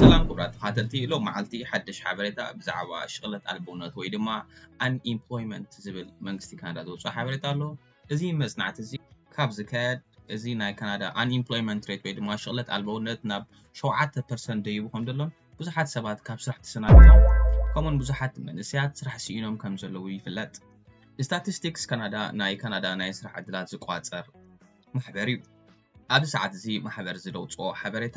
ሰላም ክቡራት ተኻተልቲ ሎም መዓልቲ ሓደሽ ሓበሬታ ብዛዕባ ሽቕለት ኣልቦነት ወይ ድማ ኣንኢምፕሎይመንት ዝብል መንግስቲ ካናዳ ዘውፅኦ ሓበሬታ ኣሎ እዚ መፅናዕቲ እዚ ካብ ዝካየድ እዚ ናይ ካናዳ ኣንኢምፕሎይመንት ሬት ወይ ድማ ሽቕለት ኣልበውነት ናብ ሸውዓተ ፐርሰንት ደይቡ ከም ዘሎን ብዙሓት ሰባት ካብ ስራሕ ተሰናቢቶም ከምኡን ብዙሓት መንእሰያት ስራሕ ስኢኖም ከም ዘለዉ ይፍለጥ ስታቲስቲክስ ካናዳ ናይ ካናዳ ናይ ስራሕ ዕድላት ዝቋፀር ማሕበር እዩ ኣብዚ ሰዓት እዚ ማሕበር ዝደውፅኦ ሓበሬታ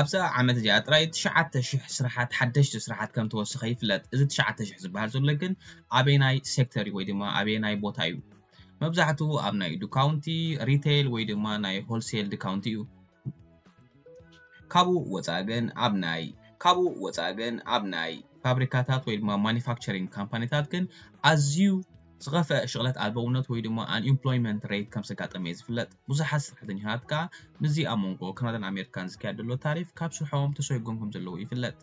ኣብዛ ዓመት እዚኣ ጥራይ ትሽዓተ ሽሕ ስራሓት ሓደሽቲ ስራሓት ከም ተወሰኸ ይፍለጥ። እዚ ትሽዓተ ሽሕ ዝበሃል ዘሎ ግን ኣበየናይ ሴክተር እዩ ወይ ድማ ኣበየናይ ቦታ እዩ? መብዛሕትኡ ኣብ ናይ ዱካውንቲ፣ ሪተይል ወይ ድማ ናይ ሆልሴል ድካውንቲ እዩ። ካብኡ ወፃእ ግን ኣብ ናይ። ካብኡ ወፃእ ግን ኣብ ናይ ፋብሪካታት ወይ ድማ ማኑፋክቸሪንግ ካምፓኒታት ግን ኣዝዩ። ዝኸፍኣ ሽቕለት ኣልቦውነት ወይ ድማ ኣንኢምፕሎይመንት ሬይት ከም ዘጋጠመ'ዩ ዝፍለጥ። ብዙሓት ስራሕተኛታት ከኣ ምስዚ ኣብ መንጎ ካናዳን ኣሜሪካን ዝካየድ ዘሎ ታሪፍ ካብ ስርሖም ተሰጉጎም ከም ዘለዉ ይፍለጥ።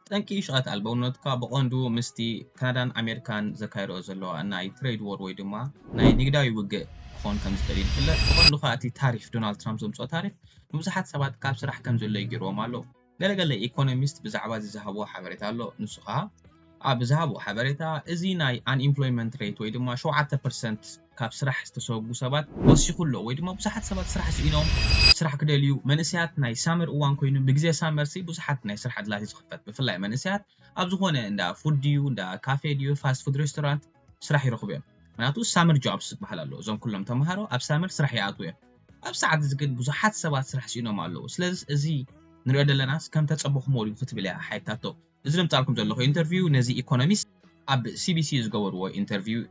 ጠንቂ ሽቕለት ኣልቦውነት ከኣ ብቐንዱ ምስቲ ካናዳን ኣሜሪካን ዘካይድኦ ዘለዋ ናይ ትሬድ ዎር ወይ ድማ ናይ ንግዳዊ ውግእ ክኾን ከም ዝኽእል'ዩ ዝፍለጥ። ብቐንዱ ከኣ እቲ ታሪፍ፣ ዶናልድ ትራምፕ ዘምጽኦ ታሪፍ ንብዙሓት ሰባት ካብ ስራሕ ከም ዝእለዩ ገይርዎም ኣሎ። ገለ ገለ ኢኮኖሚስት ብዛዕባዚ ዝሃብዎ ሓበሬታ ኣሎ ንሱ ከኣ ኣብ ዝሃብዎ ሓበሬታ እዚ ናይ ኣንኢምፕሎይመንት ሬት ወይ ድማ ሸውዓተ ፐርሰንት ካብ ስራሕ ዝተሰጉ ሰባት ወሲኹ ኣሎ ወይ ድማ ብዙሓት ሰባት ስራሕ ስኢኖም ስራሕ ክደልዩ መንእሰያት ናይ ሳመር እዋን ኮይኑ ብግዜ ሳመርሲ ብዙሓት ናይ ስራሕ ዕድላት እዩ ዝኽፈት ብፍላይ መንእሰያት ኣብ ዝኾነ እንዳ ፉድ ድዩ እንዳ ካፌ ድዩ ፋስት ፉድ ሬስቶራንት ስራሕ ይረኽቡ እዮም ምክንያቱ ሳመር ጆብስ ዝበሃል ኣሎ እዞም ኩሎም ተምሃሮ ኣብ ሳመር ስራሕ ይኣትዉ እዮም ኣብ ሰዓት እዚ ግን ብዙሓት ሰባት ስራሕ ስኢኖም ኣለዉ ስለዝስ እዚ ንሪኦ ደለናስ ከም ተጸበኹሞ ድዩ ክትብል እያ ሓይታቶ እዚ ደምጻልኩም ዘለኹ ኢንተርቪው ነዚ ኢኮኖሚስት ኣብ ሲቢሲ ዝገበርዎ ኢንተርቪው እዩ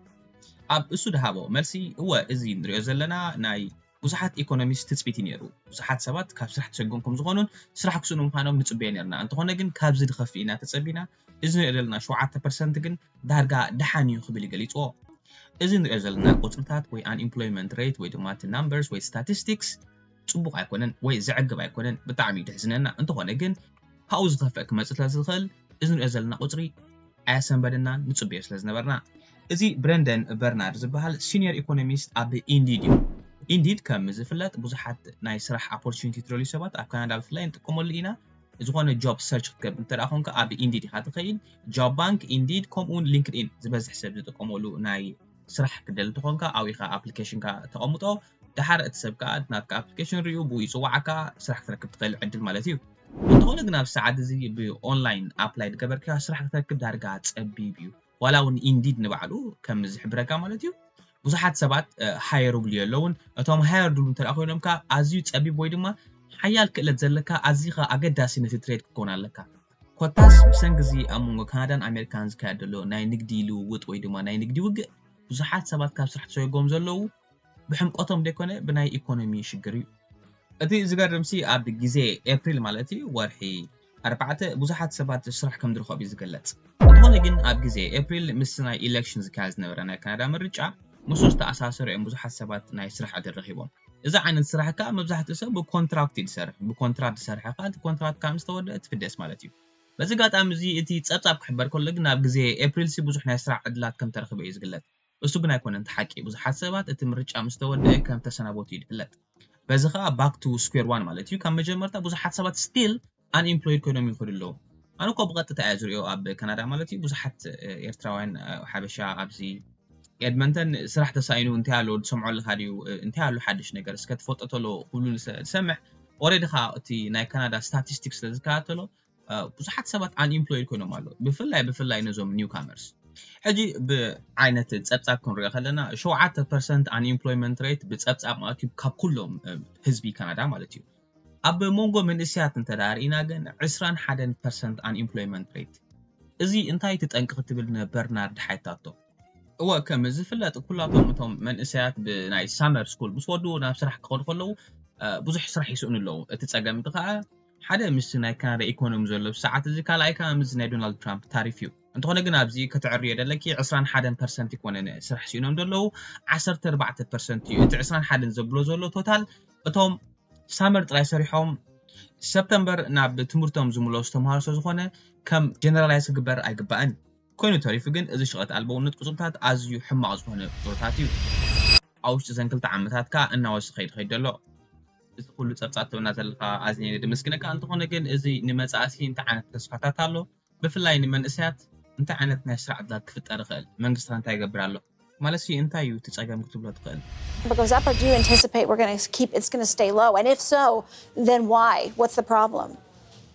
ኣብ እሱ ድሃቦ መልሲ እወ እዚ ንሪኦ ዘለና ናይ ብዙሓት ኢኮኖሚስት ትጽቢት እዩ ነይሩ ብዙሓት ሰባት ካብ ስራሕ ተሰጎም ከም ዝኾኑን ስራሕ ክስእኑ ምዃኖም ንጽበዮ ነርና እንተኾነ ግን ካብዚ ድኸፍእ ኢና ተጸቢና እዚ ንሪኦ ዘለና ሸውዓተ ፐርሰንት ግን ዳርጋ ደሓን እዩ ክብል እዩ ገሊፅዎ። እዚ ንሪኦ ዘለና ቁፅሪታት ወይ ኣንኢምፕሎይመንት ሬት ወይ ድማ እቲ ናምበርስ ወይ ስታቲስቲክስ ፅቡቕ ኣይኮነን ወይ ዘዕግብ ኣይኮነን ብጣዕሚ እዩ ደሕዝነና እንተኾነ ግን ካብኡ ዝኸፍእ ክመፅእ ስለዝኽእል እዚ ንሪኦ ዘለና ቁፅሪ ኣየሰንበደናን ንፅበዮ ስለዝነበርና እዚ ብረንደን በርናርድ ዝበሃል ሲንየር ኢኮኖሚስት ኣብ ኢንዲድ እዩ። ኢንዲድ ከም ዝፍለጥ ብዙሓት ናይ ስራሕ ኣፖርቹኒቲ ትደልዩ ሰባት ኣብ ካናዳ ብፍላይ ንጥቀመሉ ኢና። ዝኾነ ጆብ ሰርች ክትገብር እንተ ኮንካ ኣብ ኢንዲድ ኢኻ ትኸይድ ጆብ ባንክ ኢንዲድ ከምኡ እውን ሊንክድኢን ዝበዝሕ ሰብ ዝጥቀመሉ ናይ ስራሕ ክደል እንትኾንካ ኣብኡ ኢኻ ኣፕሊኬሽንካ ተቐምጦ ድሓር እቲ ሰብ ከዓ ናትካ ኣፕሊኬሽን ሪኡ ብኡ ይፅዋዓካ ስራሕ ክትረክብ ትኽእል ዕድል ማለት እዩ እንተኾነ ግን ኣብ ሰዓት እዚ ብኦንላይን ኣፕላይ ዝገበርካዮ ስራሕ ክትረክብ ዳርጋ ፀቢብ እዩ ዋላ እውን Indeed ንባዕሉ ከም ዝሕብረካ ማለት እዩ ብዙሓት ሰባት ሃየሩብሉ የለውን እቶም ሃየርድሉ እንተ ኮይኖም ከ ኣዝዩ ጸቢብ ወይ ድማ ሓያል ክእለት ዘለካ ኣዚኻ ኣገዳሲ ነቲ ትሬድ ክትከውን ኣለካ ኮታስ ብሰንኪ እዚ ኣብ መንጎ ካናዳን ኣሜሪካን ዝካየድ ዘሎ ናይ ንግዲ ልውውጥ ወይ ድማ ናይ ንግዲ ውግእ ብዙሓት ሰባት ካብ ስራሕ ተሰጎጎም ዘለዉ ብሕምቆቶም ደይኮነ ብናይ ኢኮኖሚ ሽግር እዩ። እቲ ዝገርምሲ ኣብ ግዜ ኤፕሪል ማለት እዩ ወርሒ ኣርባዕተ ብዙሓት ሰባት ስራሕ ከምዝረኸቡ እዩ ዝግለጽ። እንተኾነ ግን ኣብ ግዜ ኤፕሪል ምስ ናይ ኢለክሽን ዝካየድ ዝነበረ ናይ ካናዳ ምርጫ ምስኡ ዝተኣሳሰረ እዮም ብዙሓት ሰባት ናይ ስራሕ ዕድል ረኺቦም። እዚ ዓይነት ስራሕ ከኣ መብዛሕትኡ ሰብ ብኮንትራክት እዩ ዝሰርሕ። ብኮንትራት ዝሰርሐ ከኣ እቲ ኮንትራት ካብ ምስ ተወድኣ ትፍደስ ማለት እዩ። በዚ ኣጋጣሚ እዚ እቲ ጸብጻብ ክሕበር ከሎ ግን ኣብ ግዜ ኤፕሪልሲ ብዙሕ ናይ ስራሕ ዕድላት ከምተረኽበ እዩ ዝግለጽ። እሱ ግን ኣይኮነን እቲ ሓቂ ብዙሓት ሰባት እቲ ምርጫ ምስ ተወደኣ ከም ተሰናበቱ እዩ ዝፍለጥ በዚ ከኣ ባክ ቱ ስኩዌር ዋን ማለት እዩ ካብ መጀመርታ ብዙሓት ሰባት ስቲል ኣን ኢምፕሎይድ ኮይኖም ይኸዱ ኣለዉ ኣነ እኮ ብቐጥታ እየ ዝሪኦ ኣብ ካናዳ ማለት እዩ ብዙሓት ኤርትራውያን ሓበሻ ኣብዚ ኤድመንተን ስራሕ ተሳኢኑ እንታይ ኣሎ ዝሰምዖ ኣለኻ ድዩ እንታይ ኣሎ ሓድሽ ነገር እስከ ትፈልጦ ተሎ ክብሉ ዝሰምዕ ኦሬዲ ከኣ እቲ ናይ ካናዳ ስታቲስቲክስ ስለ ዝከታተሎ ብዙሓት ሰባት ኣንኢምፕሎይድ ኮይኖም ኣለዉ ብፍላይ ብፍላይ ነዞም ኒው ካመርስ ሕጂ ብዓይነት ፀብፃብ ክንሪኦ ከለና ሸውዓተ ፐርሰንት ኣንኢምፕሎይመንት ሬት ብፀብፃብ ማለት እዩ ካብ ኩሎም ህዝቢ ካናዳ ማለት እዩ ኣብ መንጎ መንእስያት እንተዳርኢና ግን ዕስራን ሓደን ፐርሰንት ኣንኢምፕሎይመንት ሬት እዚ እንታይ እቲ ጠንቂ ክትብል ንበርናርድ ሓይታቶ እወ ከም ዝፍለጥ ኩላቶም እቶም መንእሰያት ብናይ ሳመር ስኩል ምስ ወዱ ናብ ስራሕ ክኸዱ ከለዉ ብዙሕ ስራሕ ይስእኑ ኣለዉ እቲ ፀገም እቲ ከዓ ሓደ ምስቲ ናይ ካናዳ ኢኮኖሚ ዘሎ ብሰዓት እዚ ካልኣይ ከኣ ምስዚ ናይ ዶናልድ ትራምፕ ታሪፍ እዩ እንተኾነ ግን ኣብዚ ከተዕርዮ ደለኪ ዕስራን ሓደን ፐርሰንት ኣይኮነን ስራሕ ሲኢኖም ደለዉ ዓሰርተ ኣርባዕተ ፐርሰንት እዩ እቲ ዕስራን ሓደን ዘብሎ ዘሎ ቶታል እቶም ሳመር ጥራይ ሰሪሖም ሰፕተምበር ናብ ትምህርቶም ዝምለሱ ተምሃሮ ስለዝኾነ ከም ጀነራላይዝ ክግበር ኣይግባእን ኮይኑ ተሪፉ ግን እዚ ሽቐት ኣልቦውነት ቁጽርታት ኣዝዩ ሕማቕ ዝኾነ ቁጽርታት እዩ ኣብ ውሽጢ ዘን ክልተ ዓመታት ከኣ እናወሰኸ ይኸይድ ደሎ እዚ ኩሉ ጸብጻብ ትህበና ዘለኻ ኣዝየ ደመስግነካ ኣንተኾነ ግን እዚ ንመጻእሲ እንታይ ዓይነት ተስፋታት ኣሎ ብፍላይ ንመንእሰያት እንታይ ዓይነት ናይ ስራሕ ዕድላት ክፍጠር ይኽእል መንግስቲ ከ እንታይ ይገብር ኣሎ ማለትሲ እንታይ እዩ እቲ ጸገም ክትብሎ ትኽእል። But goes up or do you anticipate we're gonna keep it's gonna stay low and if so then why what's the problem?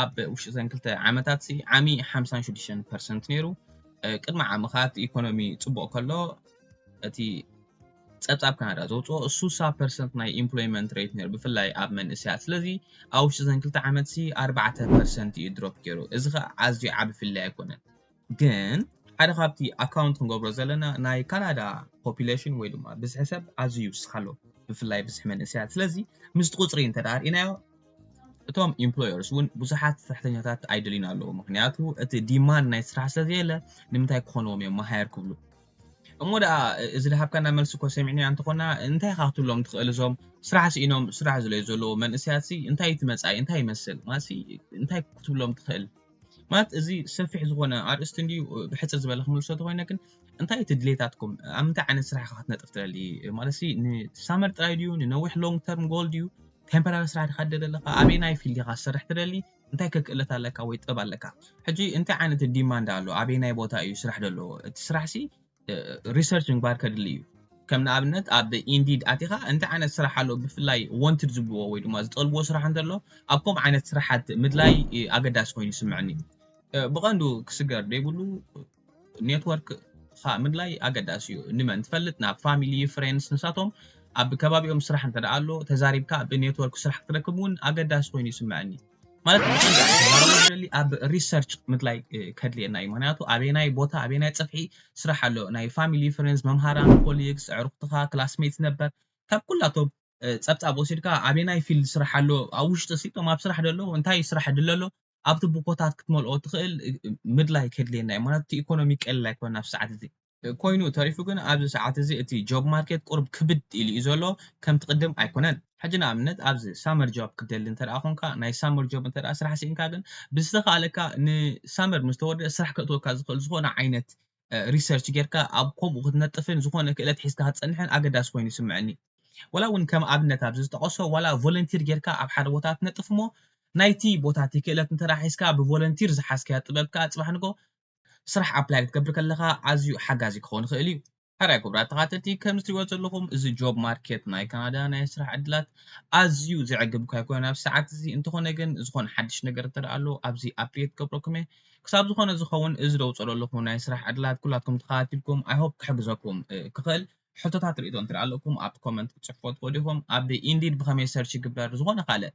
ኣብ ውሽጢ እዘን ክልተ ዓመታትሲ ዓሚ ሓምሳን ሽዱሽተን ፐርሰንት ነይሩ። ቅድሚ ዓሚ ከኣ እቲ ኢኮኖሚ ጽቡቕ ከሎ እቲ ጸብጻብ ካናዳ ዘውጽኦ ሱሳ ፐርሰንት ናይ ኢምፕሎይመንት ሬት ነይሩ ብፍላይ ኣብ መንእሰያት ስለዚ ኣብ ውሽጢ ዘን ክልተ ዓመትሲ ኣርባዕተ ፐርሰንት እዩ ድሮፕ ገይሩ እዚ ከኣ ኣዝዩ ዓቢ ፍልልይ ኣይኮነን ግን ሓደ ካብቲ ኣካውንት ክንገብሮ ዘለና ናይ ካናዳ ፖፕሌሽን ወይ ድማ ብዝሒ ሰብ ኣዝዩ ይውስኽ ኣሎ ብፍላይ ብዝሒ መንእሰያት ስለዚ ምስቲ ቁፅሪ እንተ ርኢናዮ እቶም ኢምፕሎየርስ እውን ብዙሓት ስራሕተኛታት ኣይደልዩን ኣለዉ ምክንያቱ እቲ ዲማንድ ናይ ስራሕ ስለዘየለ ንምንታይ ክኾንዎም እዮም መሃየር ክብሉ እሞ ደኣ እዚ ድሃብካና መልሲ እኮ ሰሚዕናዮ እንተኾና እንታይ ኢኻ ክትብሎም ትኽእል እዞም ስራሕ ስኢኖም ስራሕ ዝለዩ ዘለዎ መንእሰያትሲ እንታይ እቲ መፃኢ እንታይ ይመስል ማሲ እንታይ ክትብሎም ትኽእል ማለት እዚ ሰፊሕ ዝኾነ ኣርእስቲ እንድዩ ብሕፅር ዝበለ ክምልሶ ተኮይነ ግን እንታይ እቲ ድሌታትኩም ኣብ ምንታይ ዓይነት ስራሕ ኢኻ ክትነጥፍ ትደሊ ማለት ንሳመር ጥራይ ድዩ ንነዊሕ ሎንግ ተርም ጎል ድዩ ቴምፖራሪ ስራሕ ዲኻ ትደሊ ኣለካ ኣበይ ናይ ፊልድ ኢኻ ዝሰርሕ ትደሊ እንታይ ከክእለት ኣለካ ወይ ጥበብ ኣለካ ሕጂ እንታይ ዓይነት ዲማንድ ኣሎ ኣበይ ናይ ቦታ እዩ ስራሕ ደለዎ እቲ ስራሕሲ ሪሰርች ምግባር ከድሊ እዩ ከም ንኣብነት ኣብ ኢንዲድ ኣቲኻ እንታይ ዓይነት ስራሕ ኣሎ ብፍላይ ወንትድ ዝብልዎ ወይ ድማ ዝጠልብዎ ስራሕ እንተሎ ኣብ ከምኡ ዓይነት ስራሓት ምድላይ ኣገዳሲ ኮይኑ ይስምዐኒ ብቐንዱ ክስገር ዘይብሉ ኔትወርክ ምድላይ ኣገዳሲ እዩ ንመን ትፈልጥ ናብ ፋሚሊ ፍሬንስ ንሳቶም ኣብ ከባቢኦም ስራሕ እንተ ኣሎ ተዛሪብካ ብኔትወርክ ስራሕ ክትረክብ እውን ኣገዳሲ ኮይኑ ይስምዐኒ ማለት ብቐንዱ ክዛረቦ ዝደሊ ኣብ ሪሰርች ምድላይ ከድልየና እዩ ምክንያቱ ኣበናይ ቦታ ኣበናይ ጽፍሒ ስራሕ ኣሎ ናይ ፋሚሊ ፍሬንድስ መምሃራን ኮሊግስ ኣዕሩኽትኻ ክላስሜትስ ነበር ካብ ኩላቶም ጸብጻብ ወሲድካ ኣበናይ ፊልድ ስራሕ ኣሎ ኣብ ውሽጢ ሲ እቶም ኣብ ስራሕ ደሎ እንታይ ስራሕ ድለ ኣሎ ኣብቲ ቦኮታት ክትመልኦ ትኽእል ምድላይ ከድልየና እዩ ምክንያቱ እቲ ኢኮኖሚ ቀሊል ኣይኮነን ኣብ ሰዓት እዚ ኮይኑ ተሪፉ ግን ኣብዚ ሰዓት እዚ እቲ ጆብ ማርኬት ቁሩብ ክብድ ኢሉ እዩ ዘሎ ከምቲ ቅድም ኣይኮነን። ሕጂ ንኣብነት ኣብዚ ሳመር ጆብ ክትደሊ እንተድኣ ኮንካ ናይ ሳመር ጆብ እንተድኣ ስራሕ ሲኢንካ ግን ብዝተኻእለካ ንሳመር ምስ ተወድኣ ስራሕ ከእትወካ ዝኽእል ዝኾነ ዓይነት ሪሰርች ጌርካ ኣብ ከምኡ ክትነጥፍን ዝኾነ ክእለት ሒዝካ ክትጸንሕን ኣገዳሲ ኮይኑ ይስመዐኒ። ዋላ እውን ከም ኣብነት ኣብዚ ዝጠቐሶ ዋላ ቮለንቲር ጌርካ ኣብ ሓደ ቦታ ትነጥፍ እሞ ናይቲ ቦታ እቲ ክእለት እንተድኣ ሒዝካ ብቮለንቲር ዝሓዝካዮ ጥበብ ከኣ ጽባሕ ንግሆ ስራሕ ኣፕላይ ክትገብር ከለኻ ኣዝዩ ሓጋዚ ክኸውን ይኽእል እዩ። ሕራይ ክቡራት ተኻተልቲ ከም ዝትሪእዎ ዘለኹም እዚ ጆብ ማርኬት ናይ ካናዳ ናይ ስራሕ ዕድላት ኣዝዩ ዘዕግብ እኳ ኣይኮነን ኣብዚ ሰዓት እዚ እንተኾነ ግን ዝኾነ ሓድሽ ነገር እንተደኣ ኣሎ ኣብዚ ኣፕዴት ክገብረኩም እየ ክሳብ ዝኾነ ዝኸውን እዚ ደውፀሎ ኣለኹ ናይ ስራሕ ዕድላት ኩላትኩም ተኸታቲልኩም ኣይ ሆፕ ክሕግዘኩም ክኽእል ሕቶታት ርእይቶ እንተደኣ ኣለኩም ኣብ ኮመንት ክትፅሕፉዎ ትኽእሉ ኢኹም ኣብ ኢንዲድ ብኸመይ ሰርች ይግበር ዝኾነ ካልእ